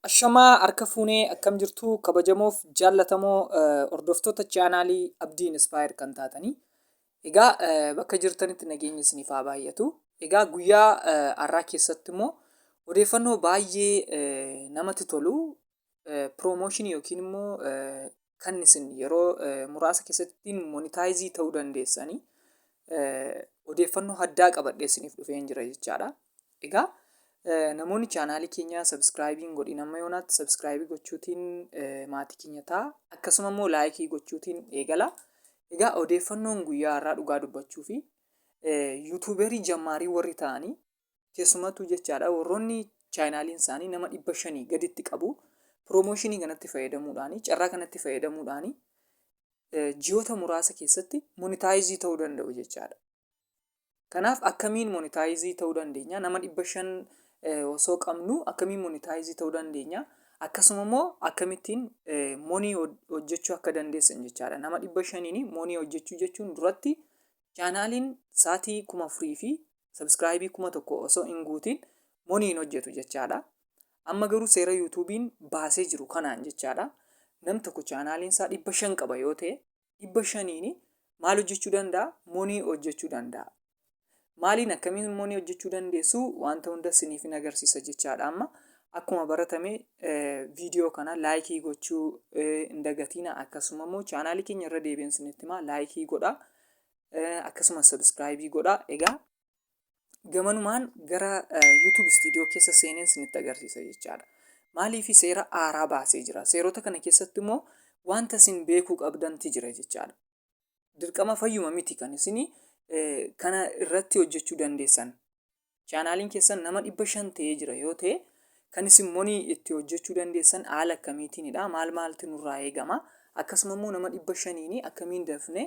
Ashamaa harka fuunee akkam jirtu kabajamoof jaallatamoo hordoftoota chaanaalii Abdii Inspire kan taatanii. Egaa bakka jirtanitti nageenyi isiniif haa baay'atu. Egaa guyyaa har'aa keessatti immoo odeeffannoo baay'ee namatti tolu piroomooshinii yookiin immoo kan isin yeroo muraasa keessatti monitaayizii ta'uu dandeessanii odeeffannoo addaa qabadhee isiniif dhufeen jira jechaadha. Egaa namoonni chaanaalii keenya sabiskiraayibiin godhin amma yoonaatti sabiskiraayibii gochuutiin maatii keenya ta'a akkasuma immoo laayikii gochuutiin eegala. Egaa odeeffannoon guyyaa har'aa dhugaa dubbachuu fi yuutuuberii jammaarii warri ta'anii Keessumattuu jechaadha warroonni chaayinaaliin isaanii nama dhibba shanii gaditti qabu piroomooshinii kanatti fayyadamuudhaanii carraa kanatti fayyadamuudhaanii ji'oota muraasa keessatti monitaayizii ta'uu danda'u jechaadha. Kanaaf akkamiin monitaayizii ta'uu dandeenya nama dhibba shan osoo qabnu akkamiin monitaayizii ta'uu dandeenya akkasuma immoo akkamittiin monii hojjechuu akka dandeessan jechaadha. Nama dhibba shaniin monii hojjechuu jechuun duratti Chaanaaliin saatii 4000 fi subscribe 1000 osoo hin guutiin money hin hojjetu jechaadha. Amma garuu seera YouTube'n baasee jiru kanaan jechaadha. Nam tokko chaanaaliin isaa 500 qaba yoo ta'e 500n maal hojjechuu danda'a? Money hojjechuu danda'a. Maaliin akkamiin money hojjechuu dandeessu wanta hunda siniifin agarsiisa jechaadha amma. Akkuma baratame viidiyoo kana laayikii gochuu hin dagatiina akkasuma immoo chaanaalii keenya irra deebi'een isinitti himaa laayikii godhaa akkasuma sabiskiraayibii godhaa egaa gamanumaan gara YouTube studio keessa seeneen isinitti agarsiisa jechaadha. Maaliif seera aaraa baasee jira seerota kana keessatti immoo wanta isin beekuu qabdanti jira jechaadha. Dirqama fayyuma miti kan isin kana irratti hojjechuu dandeessan Chaanaaliin keessan nama 500 ta'ee jira yoo ta'e kan isin monii itti hojjechuu dandeessan haala akkamiitiinidha? Maal maaltu nurraa eegama? Akkasuma immoo nama 500 akkamiin dafne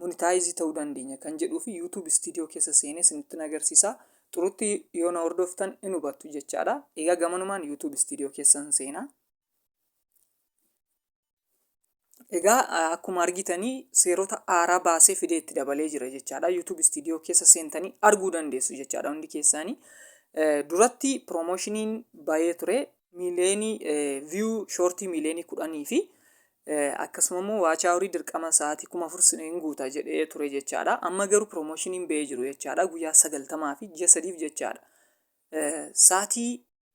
monitaayizii ta'uu dandeenya kan jedhuu fi YouTube Studio keessa seenee isinittin agarsiisa. Xurutti yoo na hordoftan in hubattu jechaadha. Egaa gamanumaan YouTube Studio keessan seenaa. Egaa akkuma argitanii seerota haaraa baasee fidee itti dabalee jira jechaadha. YouTube studio keessa seentanii arguu dandeessu jechaadha hundi keessaanii. Duratti piroomoshiniin bayee ture miileenii viyuu shoortii miileenii kudhanii fi akkasuma immoo waachaa horii dirqama sa'aatii kuma afur hin guuta jedhee ture jechaadha. Amma garuu piroomoshiniin bayee jiru jechaadha. Guyyaa sagaltamaa fi ji'a sadiif jechaadha. Sa'aatii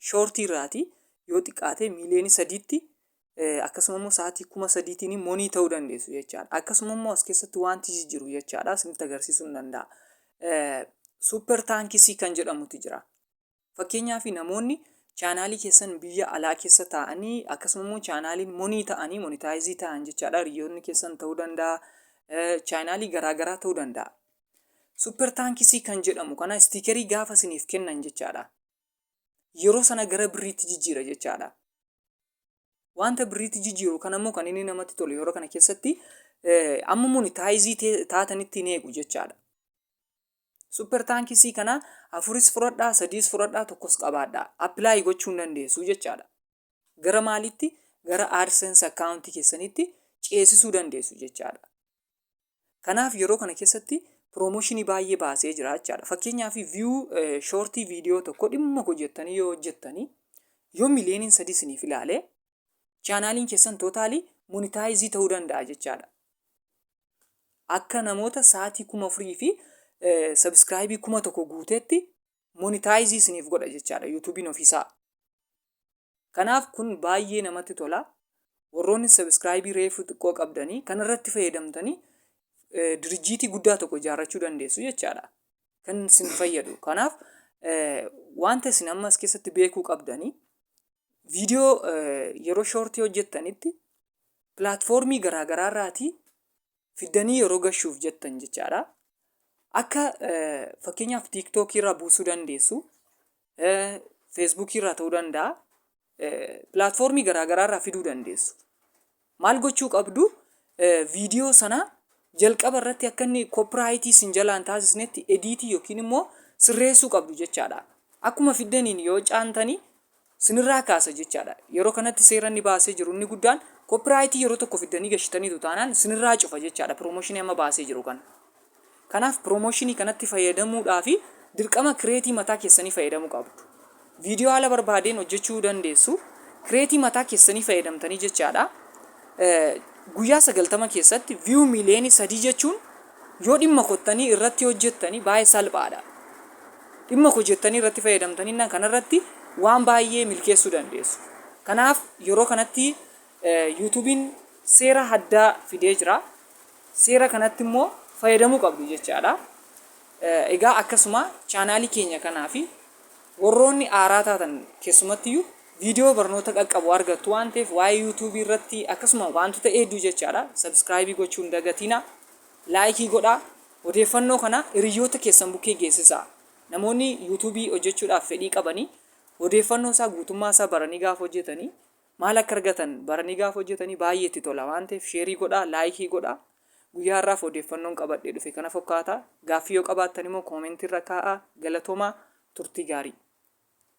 shoortii irraati yoo xiqqaatee miiliyoonii sadiitti akkasuma immoo sa'aatii kuma sadiitiin monii ta'uu dandeessu jechaadha. Akkasuma immoo as keessatti wanti jijjiiru jechaadha isinitti agarsiisuu hin danda'a. Suupper taankisii kan jedhamutu jira. Fakkeenyaaf namoonni chaanaalii keessan biyya alaa keessa taa'anii akkasuma immoo chaanaaliin monii ta'anii monitaayizii ta'an jechaadha. Hiriyoonni keessan ta'uu danda'a. Chaanaalii garaagaraa ta'uu danda'a. Suupper taankisii kan jedhamu kana istiikerii gaafa isiniif kennan jechaadha. yeroo sana gara birriitti jijjiira jechaadha. Wanta birriitti jijjiiru kana immoo kan inni namatti tolu yeroo kana keessatti amma monitaayizii taatanitti hin eegu jechaadha. Super taankisii kana afuris fudhadhaa, sadiis fudhadhaa, tokkos qabaadhaa. Appilaayi gochuu hin dandeessu jechaadha. Gara maalitti? Gara AdSense akkaawuntii keessanitti ceesisuu dandeessu jechaadha. Kanaaf yeroo kana keessatti promotion baay'ee baasee jira jechaadha. Fakkeenyaaf view shortii viidiyoo tokko dhimma koo jettanii yoo hojjettanii yoo miliyooniin sadii isiniif ilaale chaanaaliin keessan tootaalii monitaayizii ta'uu danda'a jechaadha. Akka namoota sa'aatii kuma afurii fi sabiskiraayibii kuma tokko guuteetti monitaayizii isiniif godha jechaadha yuutuubiin ofiisaa. Kanaaf kun baay'ee namatti tola. Warroonni subscribe reefu xiqqoo qabdanii kanarratti fayyadamtanii dirijjiitii guddaa tokko ijaarrachuu dandeessu jechaadha. Kan isin fayyadu. Kanaaf wanta isin amma as keessatti beekuu qabdanii viidiyoo yeroo shoortii hojjettanitti pilaatfoormii garaagaraa irraatii fiddanii yeroo gashuuf jettan jechaadha. Akka fakkeenyaaf tiiktookii irraa buusuu dandeessu, feesbuukii irraa ta'uu danda'a, pilaatfoormii garaagaraa irraa fiduu dandeessu. Maal gochuu qabdu? Viidiyoo sana jalqaba irratti akka inni koopiraayitii sin jalaan taasisnetti ediitii yookiin immoo sirreessuu qabdu jechaadha. Akkuma fiddaniin yoo caantanii sinirraa kaasa jechaadha. Yeroo kanatti seera inni baasee jiru inni guddaan koppiraayitii yeroo tokko fiddanii gashitaniitu taanaan sinirraa cufa jechaadha piroomooshinii amma baasee jiru kana. Kanaaf piroomooshinii kanatti fayyadamuudhaafi dirqama kireetii mataa keessanii fayyadamuu qabdu. Viidiyoo haala barbaadeen hojjechuu dandeessu. Kireetii mataa keessanii fayyadamtanii jechaadha. Guyyaa sagaltama keessatti viyuu miiliyoonii sadii jechuun yoo dhimma kottanii irratti hojjettanii baay'ee salphaadha. Dhimma hojettanii irratti fayyadamtaninnaan kanarratti waan baay'ee milkeessuu dandeessu. Kanaaf yeroo kanatti yuutuubiin seera haddaa fidee jira. Seera kanatti immoo fayyadamuu qabdu jechaadha. Egaa akkasuma chaanaalii keenya kanaa fi warroonni aaraa taatan keessumattiyyuu viidiyoo barnoota qaqqabu argattu waan ta'eef waa'ee yuutuubii irratti akkasuma waantota hedduu jechaadha. Sabskraayibii gochuun dagatiina. Laayikii godhaa. Odeeffannoo kana hiriyyoota keessan bukkee geessisaa. Namoonni YouTube hojjechuudhaaf fedhii qabani odeeffannoo isaa guutummaa isaa baranii gaafa hojjetani maal akka argatan baranii gaafa hojjetani baay'ee itti tola waan ta'eef sheerii godhaa laayikii godhaa. Guyyaa har'aaf odeeffannoon qabadhee dhufe kana fokkaata. Gaaffii yoo qabaattan immoo koomentii irra kaa'aa. Galatoomaa turtii gaarii.